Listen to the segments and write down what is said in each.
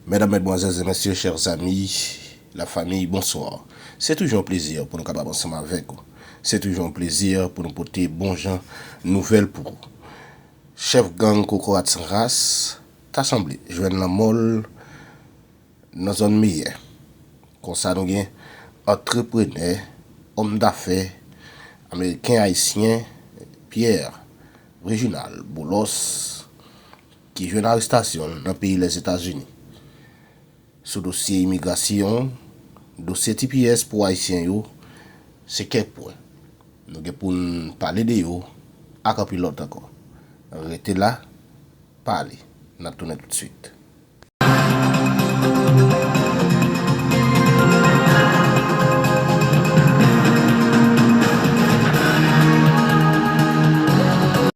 Medam, Medmwazèl, Zemèsye, chèrs ami, la fami, bonswa. Se toujou yon plezi pou nou kapab ansanm avèk ou. Se toujou yon plezi pou nou pote bon jan nouvèl pou ou. Chèf gang kokorat san ras, ta sanble, jwenn lanmò l nan zòn Meyè. Konsa nou gen antreprenè, òmdafè, ameriken-ayisyen, Pierre Reginald Boulos, ki jwenn arestasyon l nan peyi Lèzetazini sou dosye imigrasyon, dosye tps pou Ayisyen yo, se kèk pwen nou gen pou n pale de yo ak anpil lòt ankò. Rete la, pa ale, n ap tounen toutswit.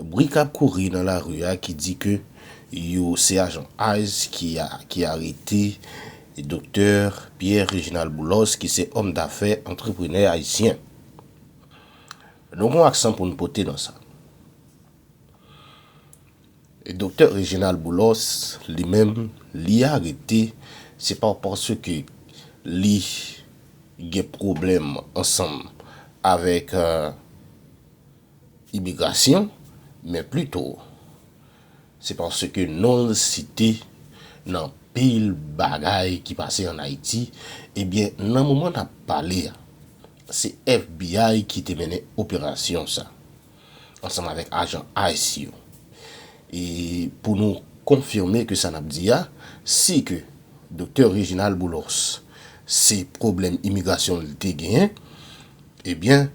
Bri k ap kouri nan lari a ki di ke yo se ajan ice ki arete Doktè Pierre Réginald Boulos ki se òm dafè, antreprenè ayisyen. Nou gen yon aksan pou n pote nan sa. Doktè Réginald Boulos li menm li arete se pa paske li gen pwoblèm ansanm avèk Imigrasyon, men plito se paske non l site nan pil bagay ki pase an Ayiti, ebyen nan moman n ap pale a, se FBI ki te mennen operasyon sa ansanm avèk ajan ice yo. E pou nou konfime ke sa n ap di a, si ke Doktè Reginald Boulos se pwoblèm imigrasyon l te genyen, ebyen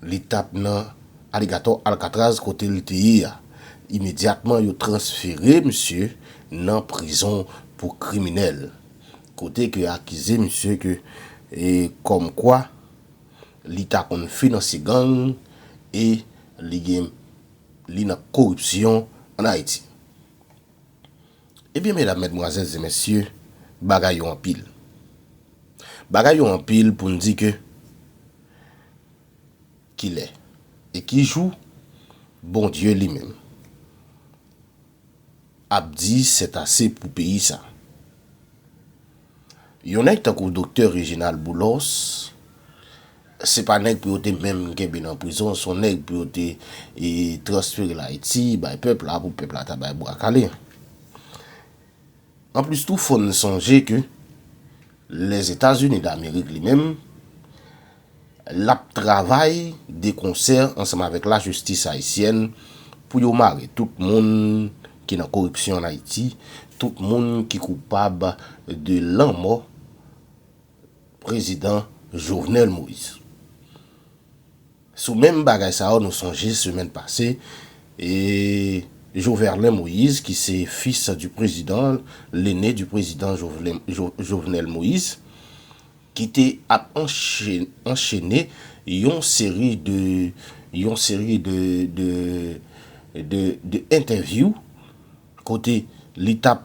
Li t ap nan Aligatò Alkatraz kote l te ye a. Imedyatman yo transfere misye nan prizon pou kriminèl, kote ke akize misye ke kòm kwa li ta konn finanse gang e li gen li nan koripsyon an Ayiti. Ebyen medam, mèdmwazèl, zenmesye, bagay yo anpil. Bagay yo anpil pou n di ke. Ki lè e ki jou Bondye li menm ap di sètase pou peyi sa? Yon nèg tankou Doktè Reginald Boulos se pa nèg pou yo te menm kenbe nan prizon, son nèg pou yo te transferel Ayiti bay pèp la pou pèp la ta bay bwa kale. Anplis tou fò n sonje ke Lèzetazini Damerik li menm, l ap travay dekonsè ansanm avèk lajistis ayisyèn pou yo mare tout moun ki nan koripsyon an Ayiti, tout moun ki koupab de lanmò Prezidan Jovenel Moïse. Sou menm bagay sa yo nou sonje semèn pase e Joverlein Moïse ki se fils du président, l'aîné du président Jovenel Moïse ki te ap anchene yon seri de yon seri de de de entèvyou kote li tap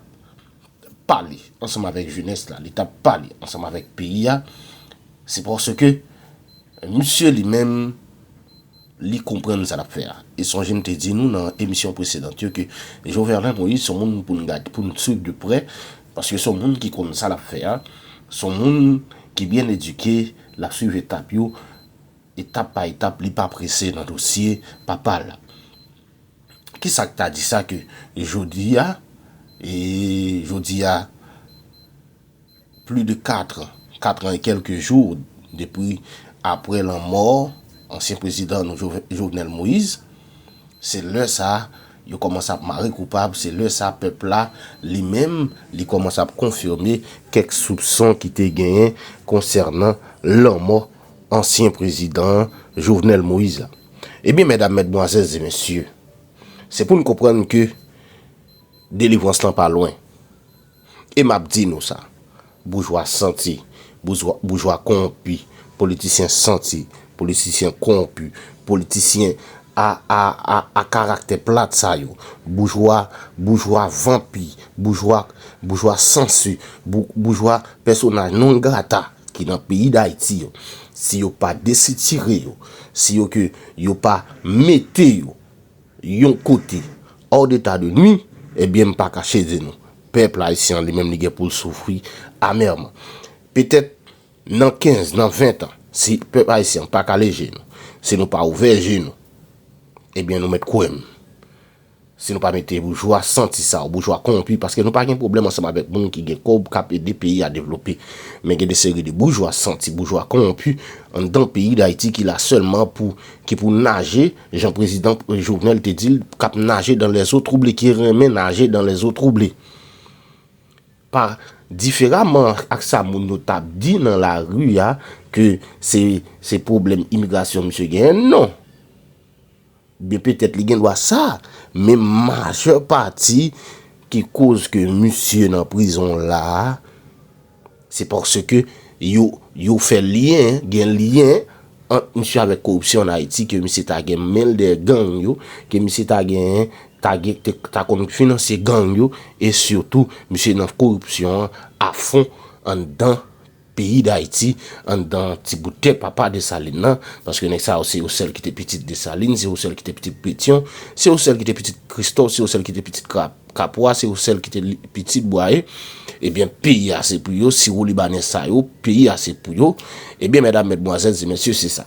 pale ansanm avèk jenès la, li t ap pale ansanm avèk peyi a, se paske misye li menm li konprann sa l ap fè a. E sonje m te di nou nan emisyon presedant yo ke Joverlein Moïse se yon moun pou nou swiv de prè paske se yon moun ki konn sa l ap fè a, se yon moun ki byen edike, l ap swiv etap yo, etap pa etap, li pa prese nan dosye papa l. Kisak ta di sa ke jodi a, e jodi a pli de 4 an, 4 an e kelke jou depi apre lanmò ansyen prezidan nou Jovenel Moïse, se lè sa yo komanse ap mare koupab, se lè sa pèp la li menm li komanse ap konfime kèk soupson ki te genyen konsènan lanmò. ansyen prezidan Jovenel Moïse la. Ebyen mèdam, mèdmwazèl, zemesye, se pou n konprann ke delivrans lan pa lwen. E m ap di nou sa, boujwa santi, boujwa kowonpi, politisyen santi, politisyen kowonpi, politisyen A a a a karaktè plat sa yo. Boujwa, boujwa vanpi, boujwa, boujwa sansu, bou, boujwa pèsonaj non grata ki nan peyi Dayiti yo, si yo pa desitire yo, si yo ke yo pa mete yo yon kote, hors d'état de nuit, ebyen m pa kache di nou, pèp Ayisyen an li menm li gen pou l soufri amèrman. Petèt Nan 15, nan 20 tan, si pèp ayisyen an pa kale je nou, si nou pa ouvè je nou, ebyen nou mèt kwè m, si nou pa mete boujwa santi sa yo, boujwa kowonpi, paske nou pa gen pwoblèm ansanm avèk moun ki gen kòb, k ap ede peyi a devlope, men gen de seri de boujwa santi, boujwa kowonpi anndan peyi Dayiti ki la sèlman pou, ki pou naje, jan prezidan Jovenel te di l, k ap naje dan lè zo twouble, ki renmen naje dan lè zo twouble. Pa diferaman ak sa moun yo tap di nan lari a ke se se pwoblèm imigrasyon misye genyen non. Byen petèt li gen dwa sa, men majè pati ki koz ke misye nan prizon la a, se paske yo yo fè lyen, gen lyen ant misye avèk koripsyon an Ayiti ke misye ta gen men l dèyè gang yo, ke misye ta genyen ta gen ta konn finansye gang yo e sitou misye nan koripsyon an afon anndan peyi dayiti anndan ti bout tè papa Desalin nan paske nèg sa yo se yo sèl ki te pitit Desalin se yo sèl ki te pitit Petyon se yo sèl ki te pitit Kristò se yo sèl ki te pitit Kapwa se yo sèl ki te pitit Bwaye ebyen peyi a se pou yo siwolibanè sa yo peyi a se pou yo ebyen mèdam mètmwazèl zemèsye se sa.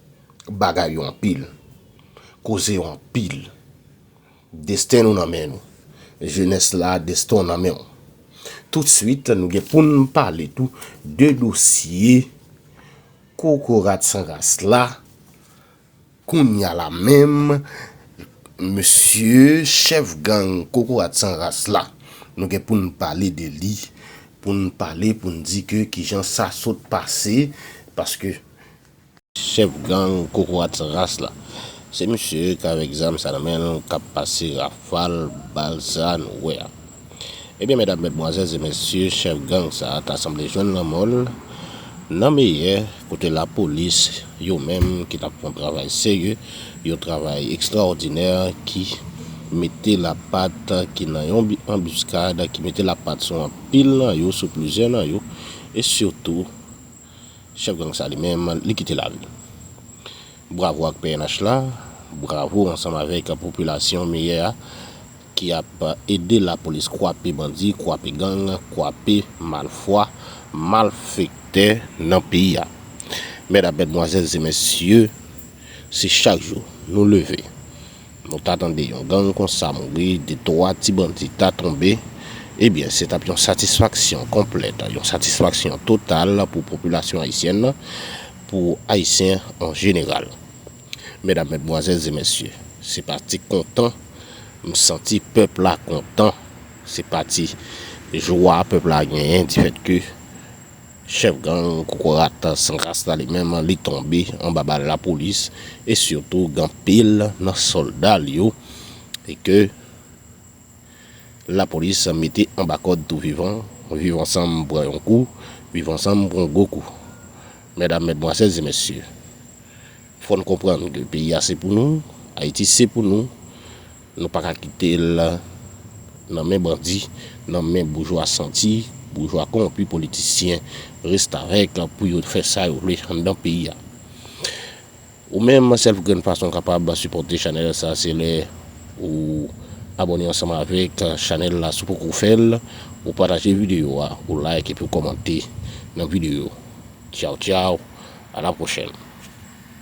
Bagay yo anpil. Koze yo anpil. Desten nou nan men nou. Jenès la, desten w nan men w. Toutsuit, nou gen pou n pale tou de dosye kokorat san ras la. Kounya la menm, mesye chèf gang kokorat san ras la, nou gen pou n pale de li. Pou n pale, pou n di ke kijan sa sot pase. Paske Chèf gang kokorat san ras la. Se misye k avèk zam sa nan men l k ap pase rafal bal sa a nou wè a. Ebyen medam, medmwazèl, e mesye, chèf gang sa a ta sanble jwenn lanmò l nan meyè kote lapolis yo menm ki t ap fè yon travay serye, yon travay ekstraòdinè ki mete lapat ki nan yon anbiskad, ki mete lapat sou anpil nan yo, sou plizyè nan yo e sitou. Chèf gang sa li menm li kite lari. Bravo ak pnh la, bravo ansanm avèk popilasyon meyè a ki ap ede lapolis kwape bandi, kwape gang, kwape malfwa, malfektè nan peyi a. Mèdam, mèdmwazèl e mesye, se chak jou nou leve Nou ta tande yon gang konsa mouri, de twa ti bandi ta tonbe, ebyen se t ap yon satisfaksyon konplèt, yon satisfaksyon total pou popilasyon ayisyèn nan, pou Ayisyen an jeneral. Medam, Medmwazèl, Zemèsye, se pa ti kontan m santi pèp la kontan, se pa ti jwa pèp la genyen difèt ke Chèf gang kokorat san ras la li menm li tonbe anba bal lapolis e sitou gen anpil nan sòlda l yo e ke lapolis mete anba kòd tou vivan, Viv ansanm pran yon kou, Viv ansanm pran yon gwo kou. Medam, medmwazèl e mesye, fò n konprann ke peyi a se pou nou, Ayiti se pou nou. Nou pa ka kite l nan men bandi, nan men boujwa santi, boujwa kowonpi, politisyen, restavèk pou yo fè sa yo vle anndan peyi a. Ou menm, sèl grenn fason w kapab sipòte chanèl sa se lè ou abòne ansanm avèk chanèl la si w poko fè l, ou pataje videyo a, ou like epi w kòmante nan videyo. Tchaw tchaw, a la pwochèn!